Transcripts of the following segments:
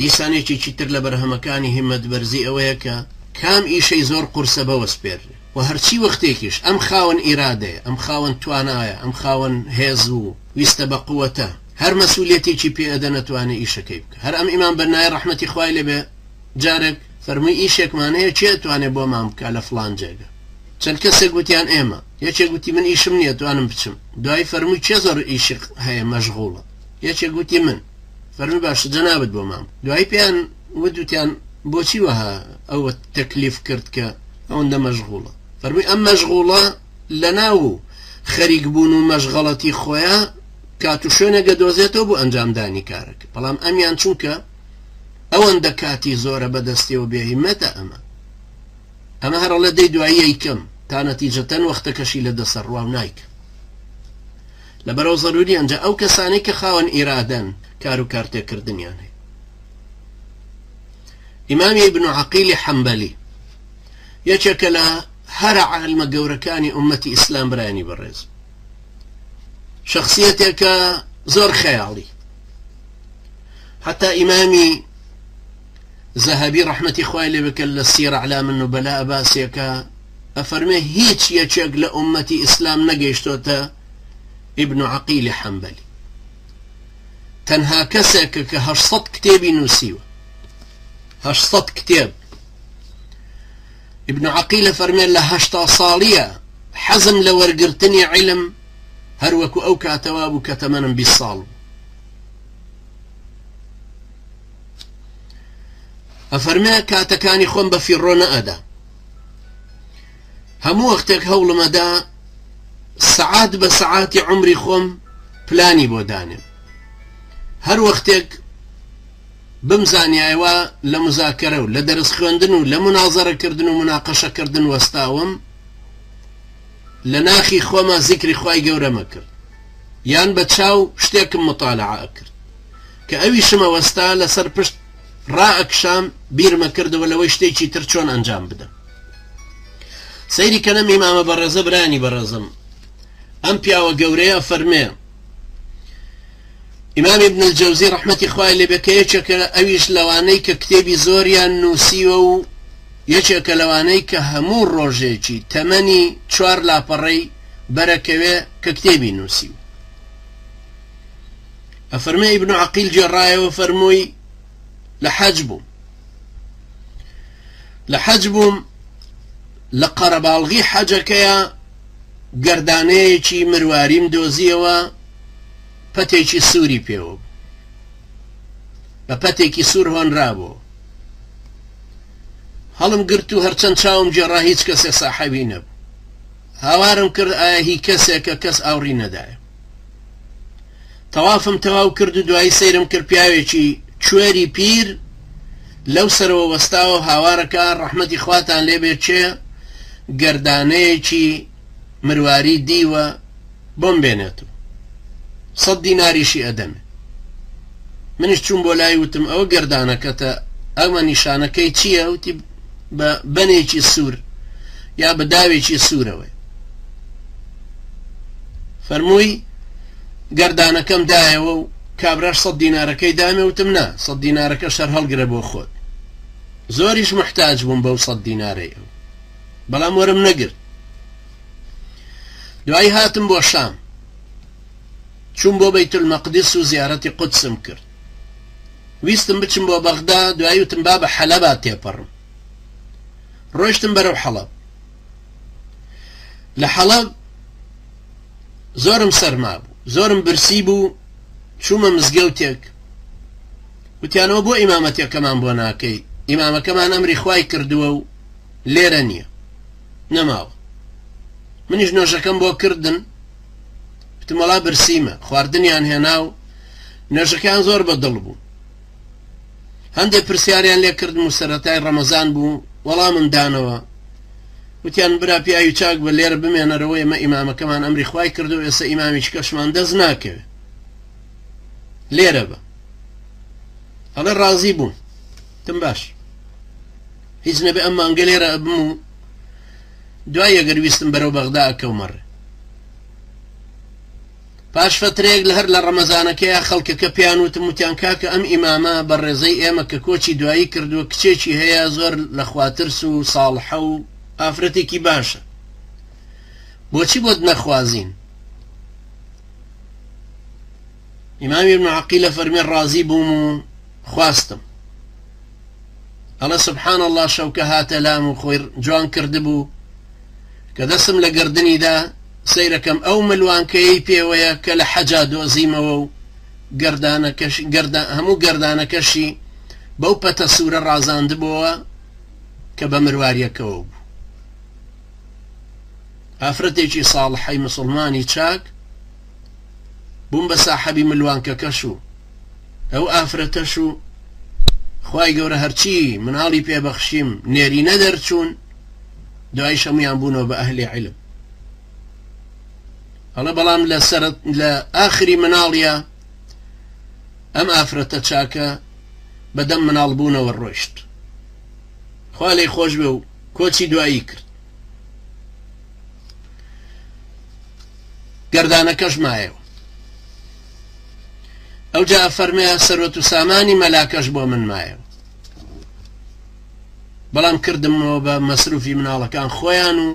دیسان یەکێکی تر لە بەرهەمەکانی هیمەت بەرزی ئەوەیە کە کام ئیشەی زۆر قورسە بەوەسپێررێ و هەرچی وەختێکیش ئەم خاوەن ئیرادەیە، ئەم خاوەن توانایە، ئەم خاوەن هێز و ویستە بە قوەتە، هەر مەسولیەتێکی پێ ئەدە نەتوانێ ئیشەکەی بکا. هەر ئەم ئیمام بەننایە ڕەحمەتی خوای لێ بێ جارێک فەرمووی ئیشێکمان هەیە کێ ئەتوانێ بۆمان بکا لە فڵان جێگە؟ چەند کەسێک وتیان ئێمە. یەکێک وتی من ئیشم نیە توانم بچم. دوایی فەرمووی کێ زۆر ئیشی هەیە مەشغوڵە؟ یەکێک وتی من. فەرمی باشە جەنابت بۆ مام دوایی پێیان ودوتیان بۆچی وەها ئەوە تەکلیف کرد کە ئەوەندە مەشغوڵە فەرمی ئەم مەشغوڵە لە ناو و خەریک بوون و مەشغەڵەتی خۆیان کات و شوێنێکە دۆزێتەوە بۆ ئەنجامدانی کارەکە بەڵام ئەمیان چونکە ئەوەندە کاتی زۆرە بەدەستیەوە بێهیمەتە ئەمە ئەمە هەرڵە دەی دوایی یکەم تا نەتیجەتەن وەختەکەشی لە دەسەر ڕوا نایکە لەبەرئەو زەرورییان جا ئەو کەسانەی کە خاوەن ئیرادەن کارو کارتێکردنیان هەیە. ئیمامی ابن عقیلی حەنبەلی یەکێکە لە هەرە عالمە گەورەکانی ئومەتی ئیسلام برایانی بەڕێز شخصیەتێکە زۆر خەیاڵی حتا ئیمامی زەهبی ڕحمەتی خوای لێ بکە لە سیرە علا من و بەلا باسیەکە ئەفەرمێ هیچ یەکێک لە ئوممەتی ئیسلام نەگەیشتۆتە ئیبن عەقیلی حەنبەلی تەنها کەسێکە کە هەشت سەد کتێبی نووسیوە هەشت سەد کتێب ئیبن عەقیلە فەرمێ لە هەشتا ساڵیە حەزم لە وەرگرتنی عیلم هەروەکو ئەو کاتەوا بوو کە تەمەنم بی ساڵ بوو ئەفەرمێ کاتەکانی خۆم بە فیڕۆ نەئەدا هەموو وەختێک هەوڵمەدا سەعات بە سەعاتی عمری خۆم پلانی بۆ دانێم هەر وەختێک بمزانیایوە لە مزاکەرە و لە دەرس خوێندن و لە منازەرەکردن و مناقەشەکردن وەستاوم لە ناخی خۆمە زیکری خی گەورەمە کرد یان بە چاو شتێکم مطالعە کرد کە ئەویشمە وەستا لەسەر پشت ڕائەکشام بیرم ئەکردەوە لەوەی شتێکی تر چۆن ئەنجام بدەم سەیری کە نەمی مامە بەڕێزە برانی بەڕێزم ئەم پیاوە گەورەیە فەرمێ ئیمام ابن الجوزی ڕحمەتی خوای لێ بەکە یەکێکە ئەویش لەوانەی کە کتێبی زۆریان نووسیوە و یەکێکە لەوانەی کە هەموو ڕۆژێکی تەمەنی چوار لاپەڕەی بەرەکەوێ کە کتێبی نووسیوە ئەفەرمێ ئیبن عەقیل گێڕایەوە فەرمووی لە حەج بووم لە حەج بووم لە قەرەباڵغی حەجەکەیە گەردانەیەکی مرواریم دۆزیەوە پەتێکی سووری پێوە بە پەتێکی سوور هۆنرابوو هەڵم گرت و هەرچەند چاوم جێڕا هیچ کەسێ ساحەوی نەبوو هاوارم کرد ئایا هی کەسێکە کەس ئاوڕی نەدایە تەوافم تەواو کرد و دوایی سەیرم کرد پیاوێکی کوێری پیر لەو سەرەوە وەستاوە هاوارەکە ڕەحمەتی خواتان لێبێ چێ گەردانەیەکی مرواری دیوە بۆم بێنێت و سەد دیناریشی ئەدەمێ منیش چوون بۆ لای وتم ئەوە گەردانەکەتە ئەمە نیشانەکەی چییە وتی بە بەنێکی سوور یا بە داوێکی سوورەوەی فەرمووی، گەر دانەکەم دایەوە و کابراش سەد دینارەکەی دامێ، وتم، نا، سەد دینارەکە شەرهەڵگرە بۆ خۆت. زۆریش موحتاج بووم بەو سەد دینارەی ئەو، بەڵام وەرم نەگرت. دوایی هاتم بۆ شام، چووم بۆ بەیتولمەقدس و زیارەتی قودسم کرد. ویستم بچم بۆ بەغدا، دوایی وتم با بە حەلەبا تێپەڕم. ڕۆیشتم بەرەو حەڵەب. لە حەڵەب زۆرم سەرما بوو زۆرم برسی بوو چوومە مزگەوتێک وتیانەوە بۆ ئیمامەتەکەمان بۆ ناکەی ئیمامەکەمان ئەمری خوای کردووە و لێرە نییە نەماوە منیش نۆژەکەم بۆ کردن پتمەڵا برسیمە خواردنیان هێنا و نۆژەکان زۆر بە دڵ بوو هەندێ پرسیاریان لێ کردم و سەرەتای ڕەمەزان بوو وەڵامم دانەوە وتیان برا پیاوی چاک بە لێرە بمێنەرەوە ئێمە ئیمامەکەمان ئەمری خوای کردو ئێستا ئیمامیش کەشمان دەست ناکەوێت لێرە بە ئەڵێ ڕازی بووم تم باش هیچ نەبێ ئەم مانگە لێرە ئەبم و دوای ئەگەر ویستم بەرەو بەغدا ئەکەومەڕێ پاش فەترەیەک لە هەر لە ڕەمەزانەکەیا خەڵکەکە پێیان وتم وتیان کاکە ئەم ئیمامە بەڕێزەی ئێمە کە کۆچی دوایی کردووە کچێکی هەیە زۆر لە خوا ترس و ساڵحە و ئافرەتێکی باشە بۆچی بۆت نەخوازین ئیمامی ابن عقیلە فەرمی ڕازی بووم و خواستم ئەڵە سبحان الله شەوکە هاتە لام و خۆی جوان کردبوو کە دەستم لە گەردنیدا سەیرەکەم ئەو ملوانکەیەی پێوەیە کە لە حەجا دۆزیمەوە و گەردانەکەشی گەردان هەموو گەردانەکەشی بەو پەتە سوورە ڕازاندبووە کە بە مرواریەکەوە بوو ئافرەتێکی ساڵحەی مسلمانی چاک بووم بە ساحەبی ملوانکەکەش و ئەو ئافرەتەش و خی گەورە هەرچی مناڵی پێبەخشیم نێرینە دەرچوون دوایش هەموویان بوونەوە بە ئەهلی علم هەڵە بەڵام لە سەر لە ئاخری مناڵە ئەم ئافرەتە چاکە بەدەم مناڵ بوونەوە ڕۆشت خوا لی خۆش بێ و کۆچی دوایی کرد گەردانەکەش مایەوە ئەو جا فەرمەیە سەرۆت و سامانی مەلاکەش بۆ من مایەوە بەڵام کردمەوە بە مەسروفی مناڵەکان خۆیان و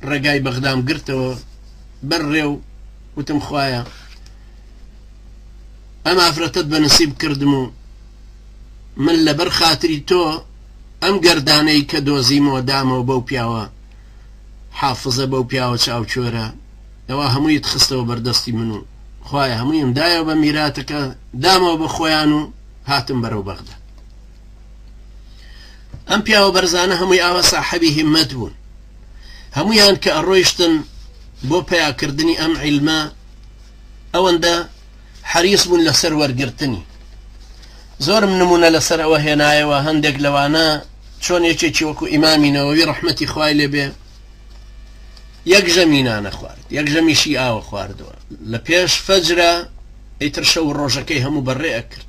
ڕێگای بەغدام گرتەوە بەر ڕێ و وتم خوایە ئەم ئافرەتت بە نسیب کردم و من لەبەر خاتری تۆ ئەم گەردانەی کە دۆزیمەوە دامەوە بەو پیاوە حافظە بەو پیاوە چاوچۆرە ئەوە هەموویت خستەوە بەردەستی من و خوای هەموویم دایەوە بە میراتەکە دامەوە بە خۆیان و هاتم بەرەو بەغدا ئەم پیاوە بەرزانە هەمووی ئاوا ساحەبی هیمەت بوون هەمویان کە ئەڕۆیشتن بۆ پیاکردنی ئەم عیلمە ئەوەندە حەریس بوون لەسەر وەرگرتنی زۆرم نمونە لەسەر ئەوە هێنایەوە هەندێک لەوانە چۆن یەکێکی وەکو ئیمامینەوەوی ڕحمەتی خوای لێبێ یەک ژەمینانە خوارد یەک ژەمیشی ئاوە خواردووە لە پێش فەجرە ئیتر شەو ڕۆژەکەی هەموو بەڕێ ئەکرد